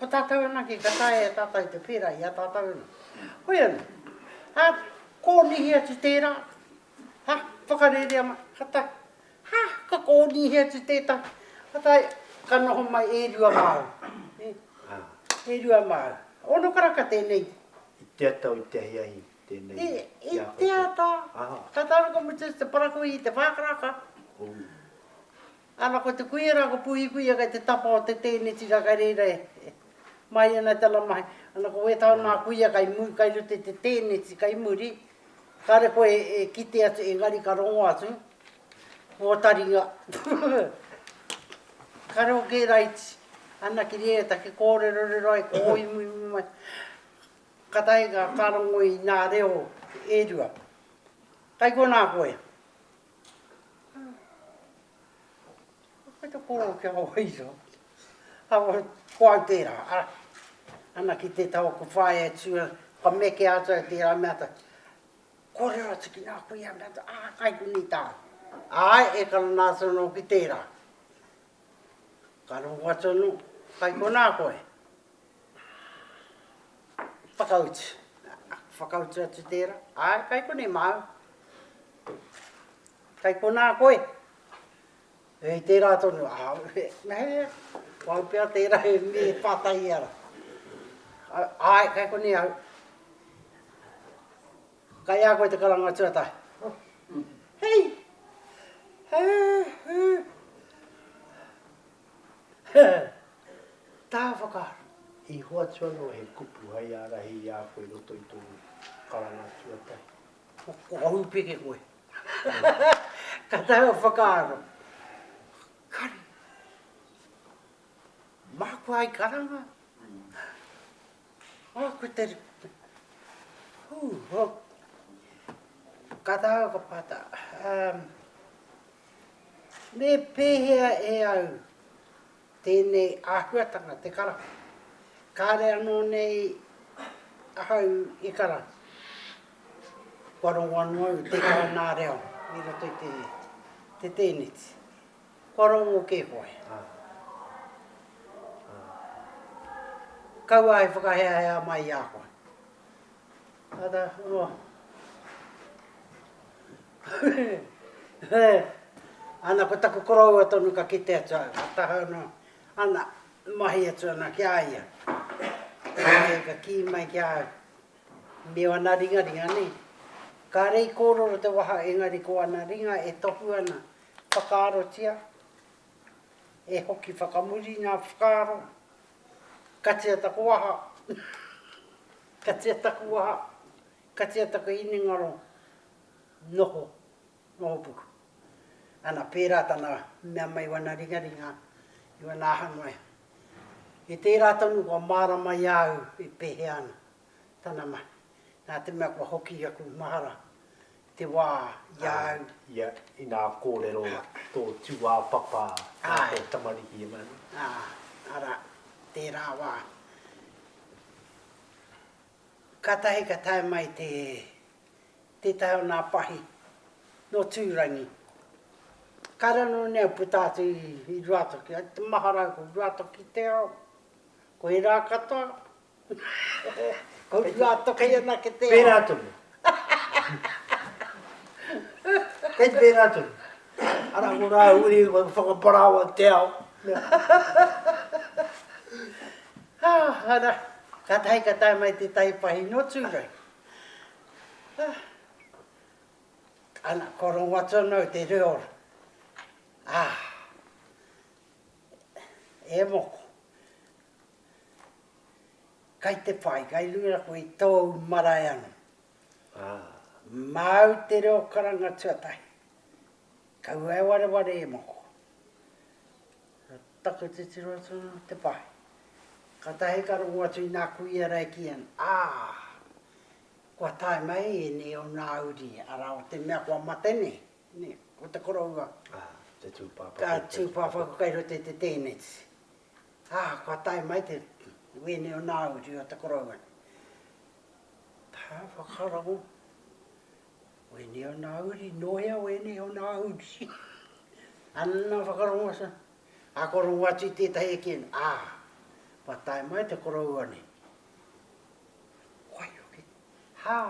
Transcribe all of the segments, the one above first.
Ko tātou anake ka taea e tātou te pērā i a tātou anō. Koia nei. Hā, kōnihi atu tērā. Hā, whakarērea mai. Ka tae. Hā, ka kōnihi atu tētahi. Ka tae, ka noho mai e rua māu. E, e rua māu. Ono karaka tēnei. I te ata o te ahiahi tēnei. I, i te ata. Aha. Ka tāruka mutu te parakuihi, te whākaraka. Ō. Ana ko te kuia ra ko puhi kuia kei te tapa o te teneti ra kei reira e mai ana tana mahi ana ko we tau na kuia kei mu kei ruto i te teneti kei muri kare koe e kite atu engari ka rongo atu o taringa kare o ke raiti ana kiri e ta ke korero rero ai ko o imuimu mai ka tahi ka ka rongo i na reo e rua kei kona koe Kei te koro ki a Waikato. Awa, ko au tērā, ara. Ana ki te tau aku whaea e tua, kua mekea atu au tērā mea ta, kōrero atu ki ngā kuia mea ta, ā, kai konei tāu. Āe, e kara nā atu anō ki tērā. Ka rongo atu anō, Kai konā koe? Whakautu. Whakautu atu tērā, Āe, kai konei māu. Kai konā koe? Hei tērā tonu, Mehemea, māu pea tērā e mī, e pātai i a rā. Āe, kai konei au. Kai a koe te karanga tuatahi. Hei! Tā whakaaro. I hoatu anō he kupu hai ārahi i a koe i roto i tō karanga tuatahi. Ko ka hūpeke koe. Ka taea whakaaro. Kare. Māku hai karanga. Oh, ko te... Hū, oh. Ka taha ka pata. Um, me pēhea e au tēnei āhuatanga, te karahu? Kāre anō nei ahau i karahu. Kua rongo anō au te kānā reo i roto i te, te tēneti. Kua rongo kē koe, ā, ā, kaua e whakaheahea mai i a koe. Āta noa. Ana, ko taku koroua tonu ka kite atu au, ka taha noa, ana, mahi atu ana ki a ia. Āe, ka kī mai ki a au, me ōna ringaringa, nē? Kāre i kōrero te waha engari ko ana ringa e tohu ana Whakaarotia, e hoki whakamuri ngā whakaaro, katia taku waha, katia taku waha, katia taku hinengaro, noho, noho puku. Ana, pērā tana mea mai wana ringaringa i wana aha noa. He tērā tonu kua mārama i a au e pēhea ana. Tana mahi. Nā te mea kua hoki aku mahara i te wā i a au. Ia, inā kōrero tō tūāpapa mā tō tamariki e manu. Ā, arā, tērā wā. Kātahi ka tae mai te, tētahi o nā pahi nō Tūrangi. Ka ranu nei au puta atu i Ruatoki, ai te mahara au ko Ruatoki te ao, ko ērā katoa, Pērā tonu. Kei pērā tonu. Arā ko rāua uri i whakaparaoa te ao. Arā, kātahi ka tae mai te taipahi nō Tūranga. Ana, ko Rongatonou te reo. E moko. Kai te whai, kai luira koe i tōu marae anō. Māu te reo karanga tuatahi. Kaua e wareware e moko. Taku titiro atu anō te whai. Katahi ka rongo atu i nā kuia rā e kī ana, ā, kua tae mai ēnei o nā uri, arā, o te mea kua mate nei, o te koroua, ka tūpāpaku kai roto i te tēneti. Ā, kua tae mai te wēne o Nāu i riro o te koroua. Ā, whakarongo, wēne o Nāu uri, nō hea wēne o Nāu uri? Anna whakarongo asa, ā, kua rongo atu i tētahi e kī ana, Ā, kua tae mai te koroua nei. Waihoki, hā,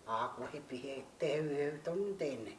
ā, kua hipi he, te heuheu tonu tēnei.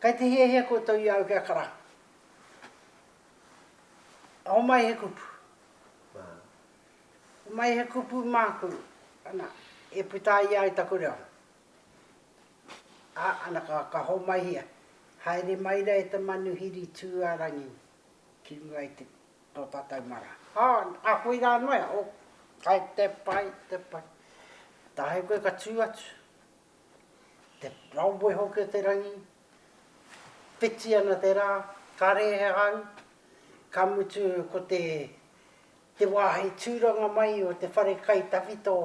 Kai te hiahia koutou i au kia karangu. Homai he kupu. Homai he kupu māku, ana, e puta ai ai taku reo. Ā, ana, ka, ka homaihia. Haere mai ra e te manuhiri tū a rangi ki runga i te, tō tātou mara. Ā, ā koirā noa, oh, kai te pai, te pai. Tae koe ka tū atu. Te raumoe hoki o te rangi, whiti ana te rā, kare he hau, ka mutu ko te te wāhi tūranga mai o te whare kai tawhito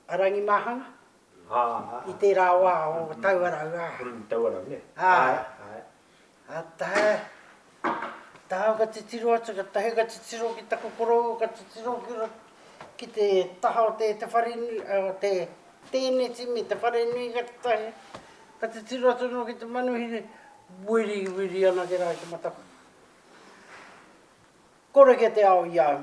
a Rangimāhanga i tērā wā o Tauarau, ā. Tauarau, nē. Āe. Āe. Ka tae, ka taha ka titiro atu, ka tahi ka titiro ki taku korou, ka titiro ki te taha o te whare nui, o te tēneti me te whare nui ka tahi, ka titiro atu noa ki te manuhiri, wiriwiri anake rā ki te matakawe. Kore kē te ao i a au.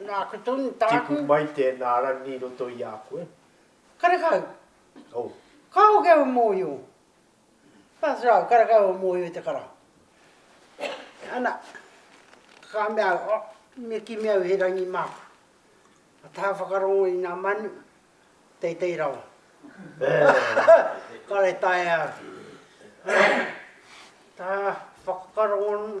Nāku tonu, tāku. Tipu mai tēnā rangi i roto i a koe. Karekau. Oh. Ka hoki au e mōhio. Ka throw, karekau au e mōhio i te kara. Ana, ka mea au, oh, me kimi au he rangi māku. Ka taha whakarongo i ngā manu, teitei rawa. Kare taea au. Taha whakarongo,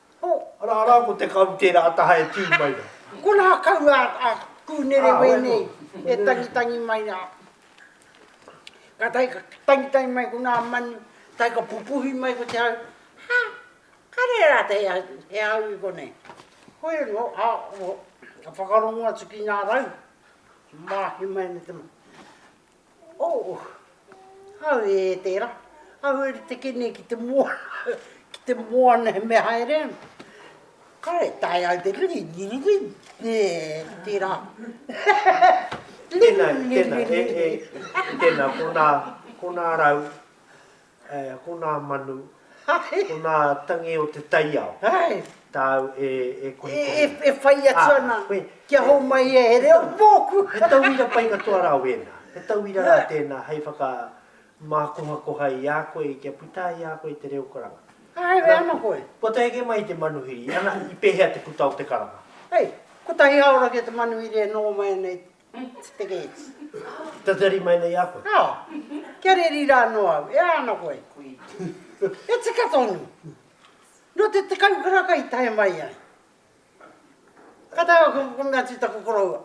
Oh, ara, ara, ko te karu tērā a taha e tū mai rā. Konā kau a, a Kūnere wēnei e tangitangi mai rā. Ka tahi ka tangitangi mai konā manu, tahi ka pupuhi mai ko te hau, Ha, ka rere rātau he, he hau i konei. Koia nō, a, oh, ka whakarongo atu ki ngā rau, māhi mai ana te manu. Oh! Au e tera, au e teke nei ki te moana, ki te moana he mea haere ana. Kare e taea au te ringi, ringi, ringi, he tera. Tena, tena, he, he, tena, kona, kona rau. He aha ko nā manu, ko nā tangi o te taiao? Hei! Tāu e kohikohia. E, e whai atu ana. Ah, koe. Kia homai ia he reo mōku. He tauira pai katoa rā wēnā. He tauira rā tēnā hei whaka mākohakoha i a koe kia puta i a koe te reo karanga. Hei, e ana koe. Kua tae ake mai te manuhiri, ana i pēhea te puta o te karanga? Hei, kotahi hāora kē te manuhiri e noho mai ana i. Te Pekeeti. Tatari mai nei a koe. Ā, kia reri rā anō au, e ana koe. E tika tonu. Nō te tekau karaka i tae mai ai. Ka tae au ka kukuna atu i taku koroua.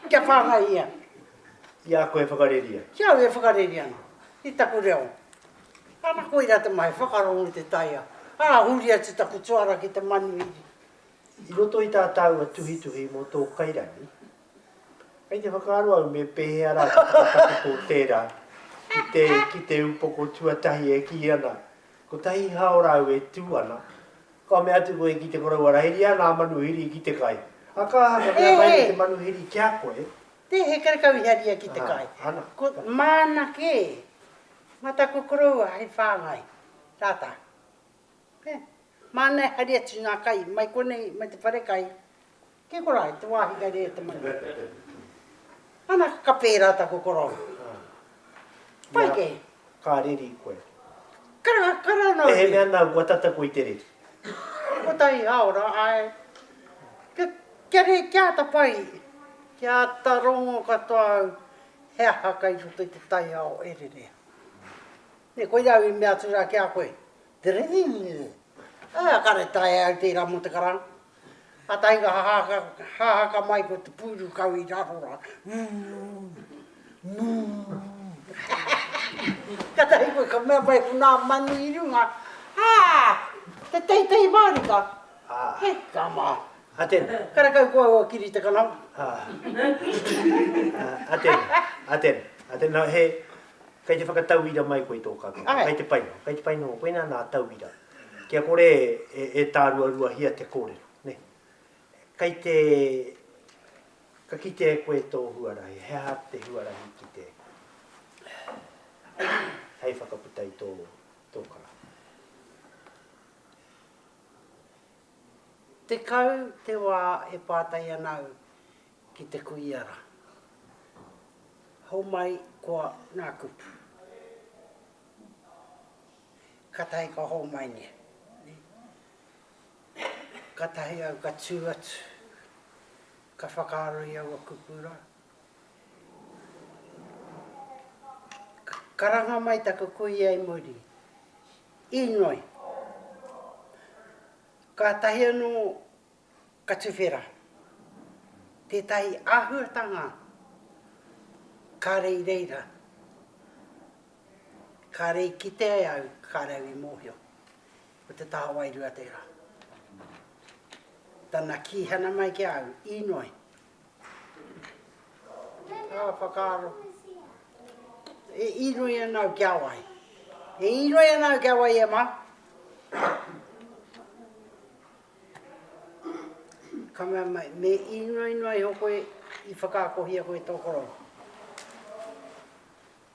Kia whāngai ia. Ki a koe e whakareri ana. Ki au e whakareri ana. I taku reo. Ana koirā te mahi, whakarongo i te taiao. Ā, huri atu taku tuara ki te manuhiri. I roto i tā tāua tuhituhi mō tō kairangi, kei te whakaaro au me pēhea rā te whakatakoto o tērā ki te, ki te upoko tuatahi e kī ana, Kotahi hao rāu e tū ana, kua mea atu koe ki te koroua rā, Heria nā manuhiri ki te kai. Ā, ka aha, ka mea mai nei te manuhiri ki a koe. Nē, he karekau i haria ki te kai. Aha, ana. Ko, māna kē, mā taku koroua hei whāngai, rātā. He. Māna e haere atu i ngā kai, mai konei, mai te whare kai, ki Korohai, te wāhi kai rere te manu. Ana, ka pērā taku korou. Pai kē. Ka reri koe. Karanga, karanga nō hoki. Mehemea nāu kua tata koe i te reri. Kotahi hāora, āe. Kia rei, kia āta pai, kia āta rongo katoa au he aha kai roto i te taiao e rere ai. Nē, koirā au i mea atu rā ki a koe, Te Rīrinirī, ā, kāre taea au tērā mō te karanga. Kātahi ka hahaka, hahaka mai ko te pūru kau i raro rā, Ū! Mū! Kātahi koe ka mea mai ko nā manu i runga, Ā! Te teitei mārika! He tama! A tēnā. Karekau koa ua kiri te kanama. Ā. Ā, a tēnā, a tēnā, a tēnā, he, Kei te whakatauira mai koe i tō kaupapa? Ae. Kei te pai noa, kei te pai noa koinā nā tauira. Kia kore e, e tāruaruahia te kōrero, nē. Kei te, ka kitea e koe tō huarahi, he aha te huarahi ki te, hei whakaputa i tō, tō kara? Tekau te wā e pātai ana au Ki te kuia ra. Homai koa nga kupu. Katahi ka homai nge. Katahi au ka tu atu. Ka whakaaro i aua kupu ra. Karanga mai taku kuia i muri. Inoi. Katahi ano Ka tuwhera tētahi āhuatanga kāre i reira, kāre i kite ai au, kāre au i mōhio. Ko te taha wairua tērā. Tana kīhana mai ki a au, inoi. Ā, whakaaro. E inoi ana au kia wai. E inoi ana au kia wai e mā. Ka mea mai, Me īnoinoa iho koe i whakaakohia koe tō koroua.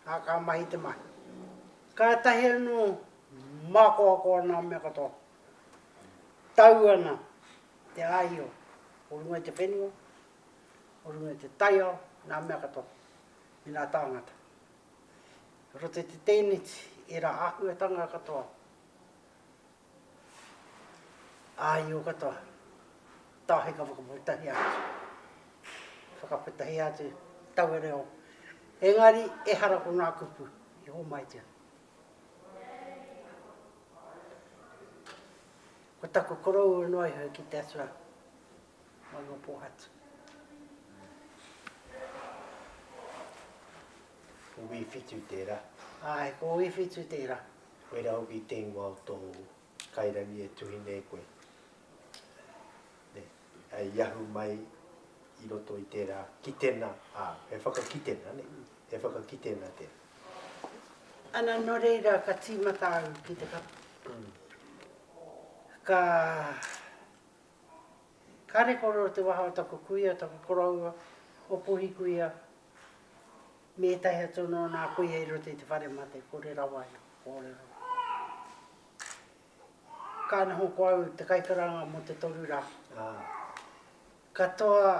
Ā, ka mahi te mahi. Kātahi anō mākoako ana a mea katoa. Tau ana te āio o runga i te whenua, o runga i te taiao, nā mea katoa, me nā tāngata. Roto i te tēneti, ērā āhuatanga katoa. Āio katoa, tahi ka whakaputahi atu, whakaputahi atu taua reo, engari ehara ko ngā kupu i hōmaitia. Ko taku koroua noa iho ki te atua mai o Pōhatu. Ko Wīwhitu tērā. Āe, ko Wīwhitu tērā. Where I'll be ten wa o tōu kairangi e tuhi nei koe. Nei, i ahu mai i roto i tērā kitenga, ā, he whakakitenga, nei, he whakakitenga tērā. Ana nō reira ka tīmata au ki te kapa. Ka, kāre kōrero te waha o taku kuia, taku koroua, o Puhikuia, me ētahi atu anō nā kuia i roto i te whare mate, kore rawa ia kōrero. Ka noho ko au te kaikaranga mō te toru rā. Katoa,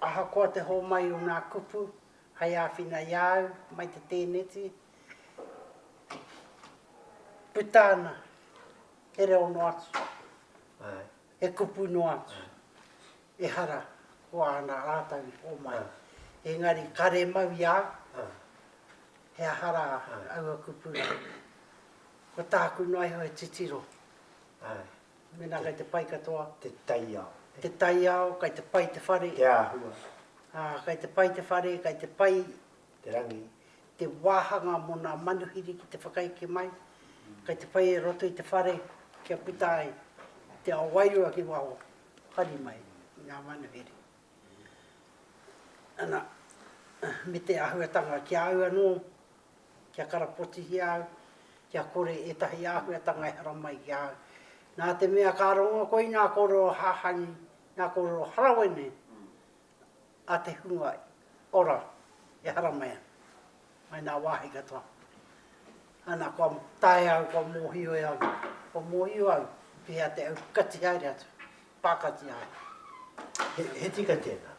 ahakoa te hōmai o nā kupu, hei āwhina i a au, mai te tēneti, puta ana he reo noa atu. He kupu noa atu. Ehara ko āna ātau homai. Engari kare mau i a au. He aha rā aua kupu rā? Ko tāku noa iho he titiro. Mēnā kei te pai katoa. Te taiao. Te taiao, kei te pai te whare. Te āhua. Ā, kei te pai te whare, kei te pai. te rangi, te wāhanga mō nā manuhiri ki te whakaeke mai, kei te whai e roto i te whare kia puta ai te ao wairua ki waho, hari mai i ngā manuhiri. Ana, me te āhuatanga ki a au anō, kia karapotihia au, kia kore ētahi āhuatanga e haramai ki a au. Nā te mea ka rongo koe nā kōrero hahani, nā kōrero harawene, a te hunga ora e haramai ana mai nā wāhi katoa. Ana kua taea au, kua mōhio e au, kua mōhio au ki hea te aukati haere atu, pākati haere. He, he tika tēnā.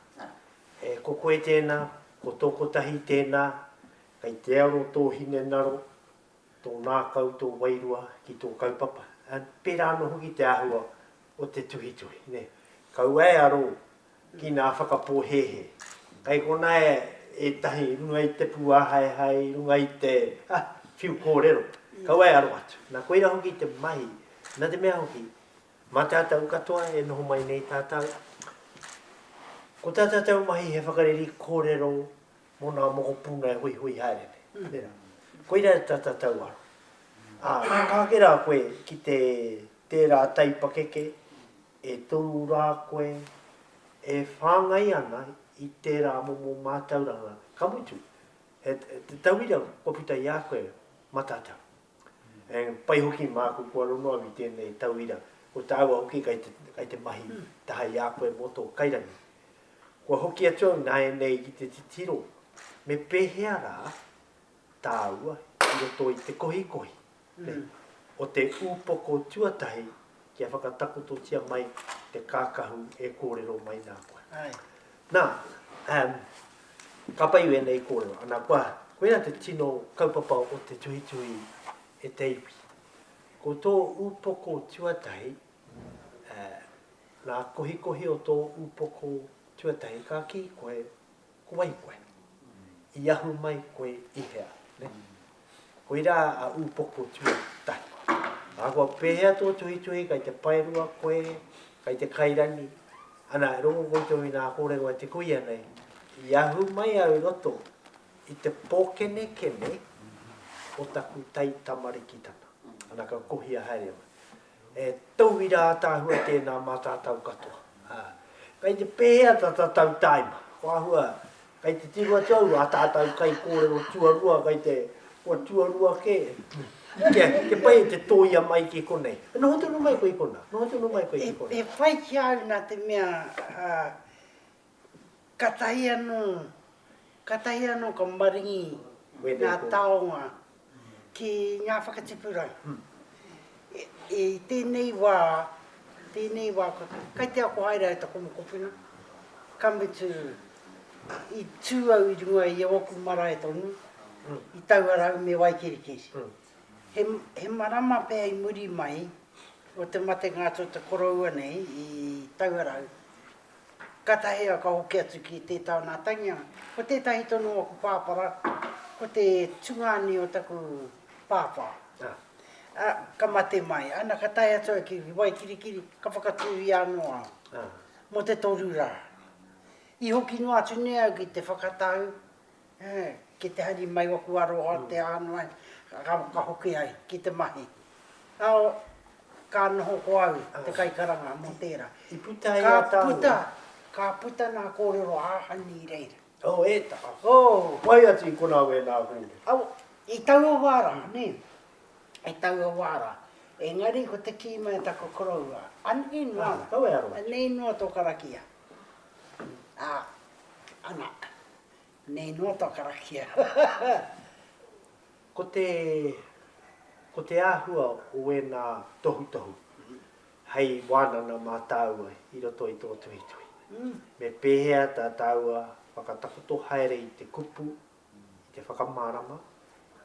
E, ko koe tēnā, ko tō kotahi tēnā, kei te aro tō hinengaro, tō ngākau, tō wairua ki tō kaupapa, pērā anō hoki te āhua o te tuhituhi. Kaua e aro ki ngā whakapōhēhē. Kei konā ētahi i runga i te pūāhaehae, i runga i te whiu kōrero, kaua e aro atu. Nā koirā hoki te mahi, nā te mea hoki, mā tātou katoa e noho mai nei tātou, ko tā tātou mahi he whakareri kōrero, mō ngā mokopuna e huihui haere nei, tērā. Koirā tā tātou aro. Ā, ka ake rā koe ki te, tērā taipakeke e toru rā koe e whāngai ana i tērā momo mātauranga, ka mutu, he, he tauira kua puta i a koe mā tātou. He pai hoki māku kua rongo au i tēnei tauira, ko tāua hoki kei te, kei te mahi taha i a koe mō tō kairangi. Kua hoki atu au nāianei ki te titiro, me pēhea rā tāua i roto i te kohikohi o te ūpoko tuatahi kia whakatakototia mai te kākahu e kōrero mai nā koe. Nā, um, ka pai wēnei kōrero, ana kua, koia te tino kaupapa o te tuhituhi e te iwi. Ko tō upoko tuatahi, uh, nā kohikohi o tō upoko tuatahi, ka kī koe, Ko wai koe? I ahu mai koe i hea? Ne? Koira a Upoko tuatahi. Ahakoa pehea tō tuhituhi, kai te paerua koe, kai te kairani, ana, e rongo koutou i nā kōrero a te kuia nei, i ahu mai au i roto i te pōkenekene o taku taitamarikitanga. Ana, ka kohia haere mai. He tauira ataahua tēnā mā tātau katoa. Ā, kei te pēhea tā tātau tāima? Ko āhua, kei te tiro atu au, ā tātau kaikōrero tuarua, kei te, kua tuarua kē, kia, kia pai e te tōia mai ki konei. E noho tonu mai koe i konā, noho tonu mai koe ki konā. He, he whai ki a au nā te mea, ā, Katahi anō, katahi anō ka maringi ngā taonga ki ngā whakatipuranga. I tēnei wā, tēnei wā, kai te ako haere ai taku mokopuna, ka mutu i tū au i runga i ōku marae tonu, i Tauarau me Waikirikiri. He, he marama pea i muri mai o te matenga atu o te koroua nei i Tauarau, Katahea ka hoki atu ki te taunatanga, ko tetahi tonu aku papara, ko te tungani o taku papa, a, ka mate mai, ana ka tae atu au ki Waikirikiri, ka whakaturia ano au, mo te toru ra. I hoki noa atu nei au ki te whakatau, Ki te hari mai oku aroha te ano ai ka hoki ai ki te mahi ao ka noho ko au te kaikaranga mo tera ka puta na korero ahani i reira. Oh e taha. Whai atu i kona wena kore. I taua wa ra ne i taua wa ra engari ko te ki mai taku koroua anei noa anei noa to karakia a ana. Nei noa tua karakia. Ko te, ko te āhua o ēnā tohutohu hei wānanga mā tāua i roto i tō tuhituhi, me pēhea tā tāua whakatakoto haere i te kupu, i te whakamārama,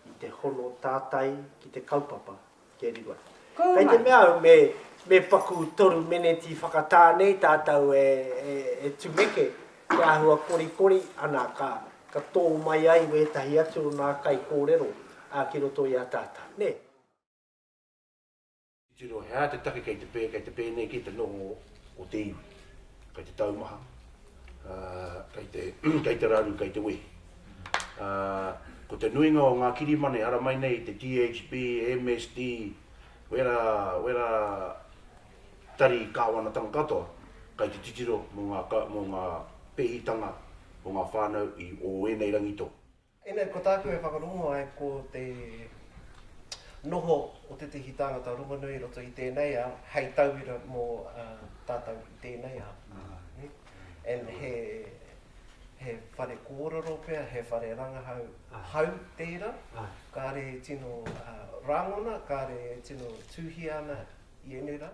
i te hono tātai ki te kaupapa. Keri mai. Kei te mea au me paku toru meneti whakatā nei tātou e tumeke te āhua korikori, ana, ka tō mai ai wētahi atu o nā kaikōrero ki roto i a tātou, nē. Titiro, he aha te take kei te pēnei ki te noho o te iwi? kei te taumaha, kei te, kei te raru, kei te wehi. Ko te nuinga o ngā kirimana e haramai nei te THB, MSD, wera, wera tari kāwanatanga katoa, kei te titiro mō ngā, mō ngā pēhitanga o ngā whānau i o ēnei rangi tō. Ina, ko tāku e whakarongo ai ko te noho o tētehi tāngata rongonui i roto i tēnei ao hei tauira mō tātou i tēnei ao. And he, he whare kōrero pea, he whare rangahau hau tērā, kāre e tino rāngona, kāre e tino tūhia ana i ēnei rā.